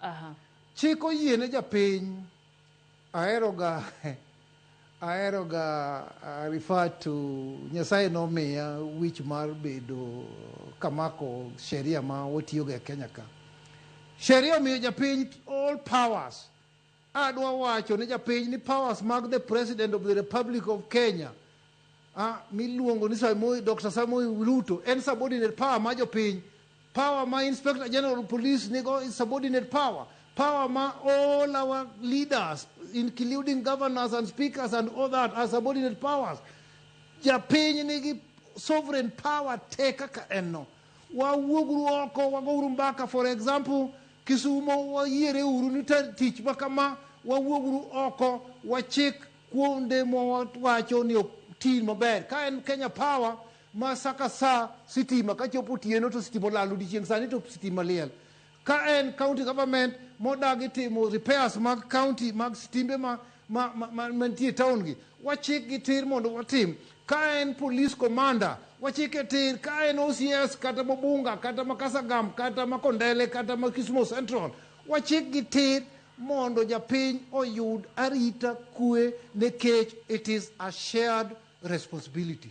Aha. Chik oyie ne japiny. Aheroga aheroga uh, refer to Nyasaye nomiya wich mar bedo kamako sheria ma watiyoga e Kenya ka. Sheria omiyo japiny all powers. Adwa wacho ne japiny ni powers mag the president of the republic of Kenya ah, miluongo ni Samoei, Dr. Samoei Ruto en subordinate power ma jopiny. Power ma Inspector General of Police nigo is subordinate power. Power ma all our leaders including governors and speakers and all that are subordinate powers. Japiny nigi sovereign power te kaka en no. Wawuoguru oko, wagouru mbaka. For example, Kisumo, wayiere uru ni tich ma kama, wawuoguru oko, wachik kuonde mwawacho ni ok ti maber. Ka en Kenya Power ma sa ka sa sitima kachopo otieno to sitima olal odiechieng' sani to sitima liel. Ka en county government modagi timo repairs mag county mag stimbe ma ma ma- ma- mantie e town gi wachik gi tir mondo watim ka en police commander wachik e tir ka en ocs kata mobunga kata ma kasagam kata ma kondele kata ma kisumo central wachik gi tir mondo japiny oyud arita kwe nikech it is a shared responsibility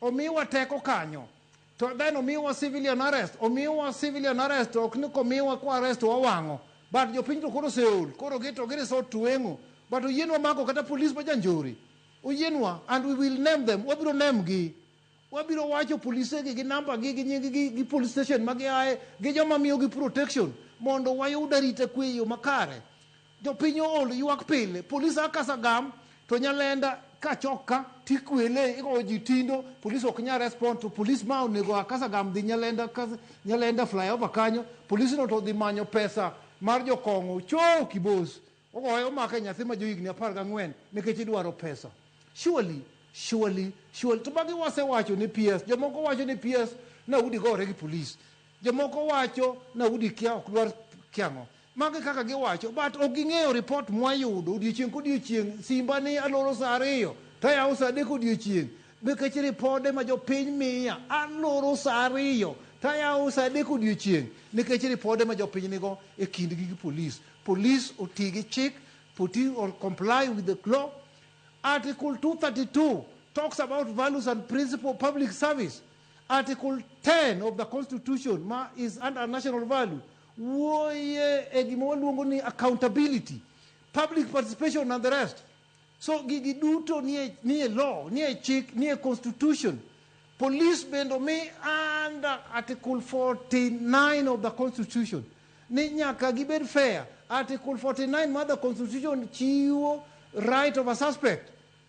Omiwa teko kanyo. To then omiwa civilian arrest. Omiwa civilian arrest ok ni komiwa kwa arrest to wawang'o. But jopiny to koro oseol. Koro gi to gi resort to weng'o. But oyienwa mako kata police ma janjore. Oyienwa and we will name them. Wabiro name gi. Wabiro wacho polise gi gi number gi gi nying gi gi police station ma giaye gi joma miyogi protection mondo wayud arita kwe e yo makare. Jopiny ool ywak pile. Police a kas agam to Nyalenda ka chok ka to ikwele igoyo ji tindo police ok nyal respond to police ma onego a kas agam dhi Nyalenda kas Nyalenda flyover kanyo police no to odhi manyo pesa mar jokong'o choo kibos ogoye omake nyathi ma johigni apar gang'wen nikech idwaro pesa. Surely surely surely to magi wasewacho ni PS jomoko wacho ni PS na udi gore gi police. Jomoko wacho naudi kia ok dwar kiango. Mago e kaka giwacho but ok ging'eyo report mwayudo odiochieng' kodiochieng' simba ni aloro saa ariyo to ayawo saa adek odiochieng' nikech ripode ma jopiny miya aloro saa ariyo to ayawo saa adek odiochieng' nikech ripode ma jopiny nigo e kindgi gi police. Police oti gi chik, poti or comply with the law. Article 232 talks about values and principle of public service. Article 10 of the constitution ma is under national value wuoye e gima waluongo ni accountability public participation and the rest so gigi duto nie, nie law nie chik nie constitution police bende omi under article 49 of the constitution ni nyaka gibed fair article 49 mar the constitution chiwo right of a suspect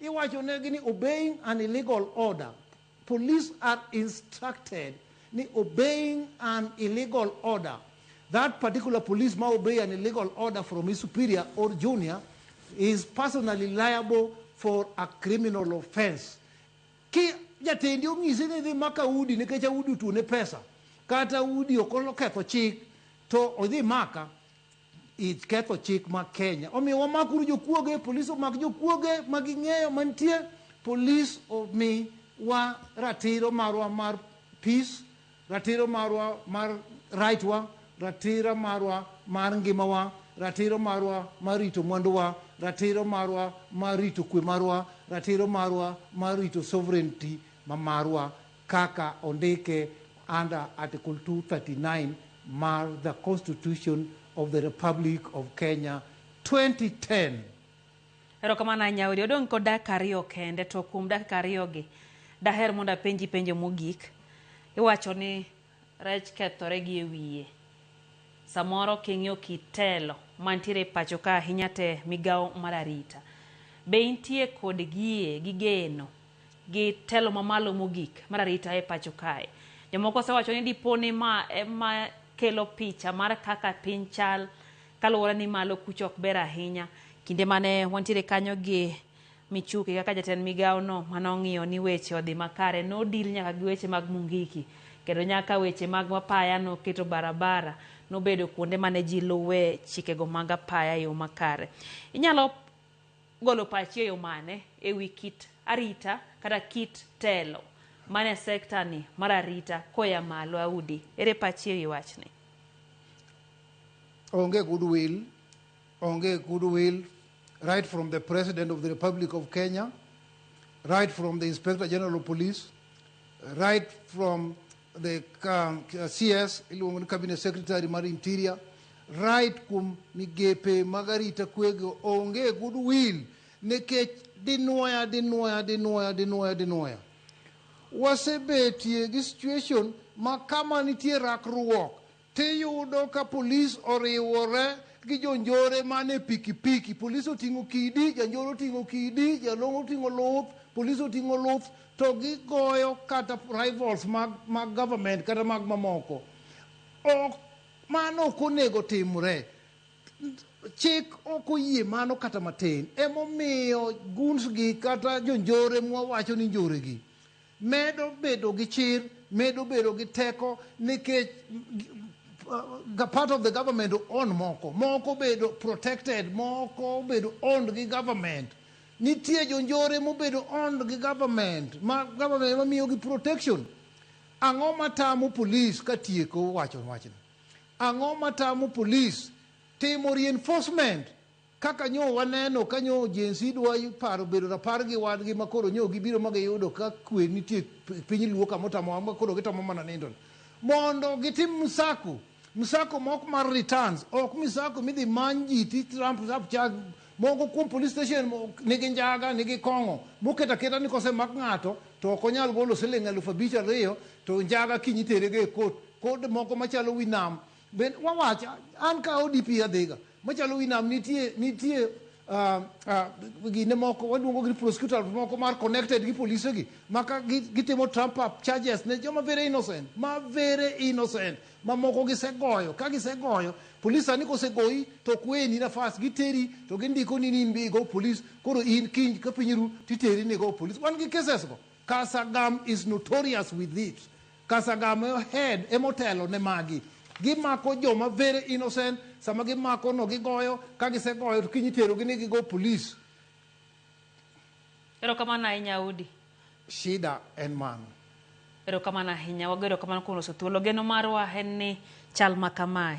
Iwacho negi ni obeying an illegal order. Police are instructed ni obeying an illegal order. That particular police ma obey an illegal order from his superior or junior is personally liable for a criminal offense. Ki jatendi ong'isi ni idhi maka udi nikech audi otuone pesa kata udi ok oketho chik to odhi maka Iketho chik ma Kenya. Omiyo wamak uru jokuoge, polis omak jokuoge ma ging'eyo mantie, polis omi wa ratiro marwa mar peace, ratiro marwa mar right wa, ratiro marwa mar ngima wa, ratiro marwa mar rito mwandu wa, ratiro marwa mar rito kwe marwa, ratiro marwa mar rito sovereignty ma marwa. kaka ondike under Article 239 mar the Constitution of the Republic of Kenya 2010. Erokamano ahinya Odi. Odong' kod dakika ariyo kende to kuom dakika ariyogi daher mondo apenji penjo mogik. Iwacho ni rech kethore gi e wiye. Samoro king'iyo kitelo mantiere e pacho ka ahinya te migawo mar arita. Be intie kod gie gi geno gi telo mamalo mogik mar arita e pacho kae. Jomoko osewacho ni dipo ni ma ema kelo picha mar kaka piny chal kaluwore ni malo kucho ok ber ahinya. Kinde mane wantiere kanyo gi Michuki kaka jatend migawo no mane ong'iyo ni weche odhi makare nodil nyaka gi weche mag Mungiki kendo nyaka weche mag apaya noketo barabara nobedo kuonde mane ji luwe chikego mag apaya e yo makare. Inyalo golo pachi e yo mane e wi kit arita kata kit telo mane sekta ni mar arita koya malo Audi ere pachi e wi wachni? Onge goodwill, onge goodwill right from the President of the Republic of Kenya, right from the Inspector General of Police, right from the um, CS iluongo ni cabinet secretary mar interior right kuom migepe mag arita kwego onge goodwill nikech dinwoya dinwoya dinwoya dinwoya dinwoya wasebetie gi situation ma kama nitie rakruok Tiyudo ka polis oriwore gi jonjore man e pikipiki. Polis oting'o kidi, janjore oting'o kidi, jalong'o oting'o luth, polis oting'o luth, to gigoyo kata rivals mag, mag government kata mag mamoko. Ok, mano ok onego timre. Chik ok oyie mano kata matin. Emomiyo guns gi kata jonjore mwawacho ni njore gi, Medo bedo gi chir, medo bedo gi teko nikech the part of the government own moko, moko bedo protected, moko bedo owned gi government. Nitie jonjore mobedo owned gi government, ma government ema miyogi protection. Ang'o matamo police katieko wacho wachni? Ang'o matamo police timo reinforcement Kaka nyo waneno ka nyo Gen Z dwa paro bedo rapar gi wadgi ma koro nyo gibiro ma giyudo ka kwe nitie e piny Luo kama otamowa ma koro gitamo mana nindo ni. Mondo gitim msako, msako mok mar returns, ok msako midhi many ji ti tramp tap chag moko kuom police station mo- nigi njaga nigi kong'o moketo aketa ni kosemak ng'ato to ok onyal golo siling eluf abich ariyo to njaga kiny iterego e kot kod moko machalo wi nam Ben, wawach an ka odp adhiga Machalo wi nam nitie nitie ah, ah, gine moko waduongo gi prosecutors moko mar connected gi polise gi ma ka gi- gitimo trump up charges ne joma very innocent ma very innocent ma moko gisegoyo ka gisegoyo polis sani kosegoyi to ok weni nafas giteri to gindiko ni in be igo polis koro in kiny ka piny ru titeri ni go polis wan gi cases go kasagam is notorious with it Kasagame head emotelo ne magi. Gimako joma very innocent, sama gimako no gigoyo, ka gisegoyo to kiny iterogi ni gigo police. Erokamano ahinya Audi. Shida en mano. Erokamano ahinya, wago erokamano kuom loso thuolo. Geno marwa en ni chal ma kamae.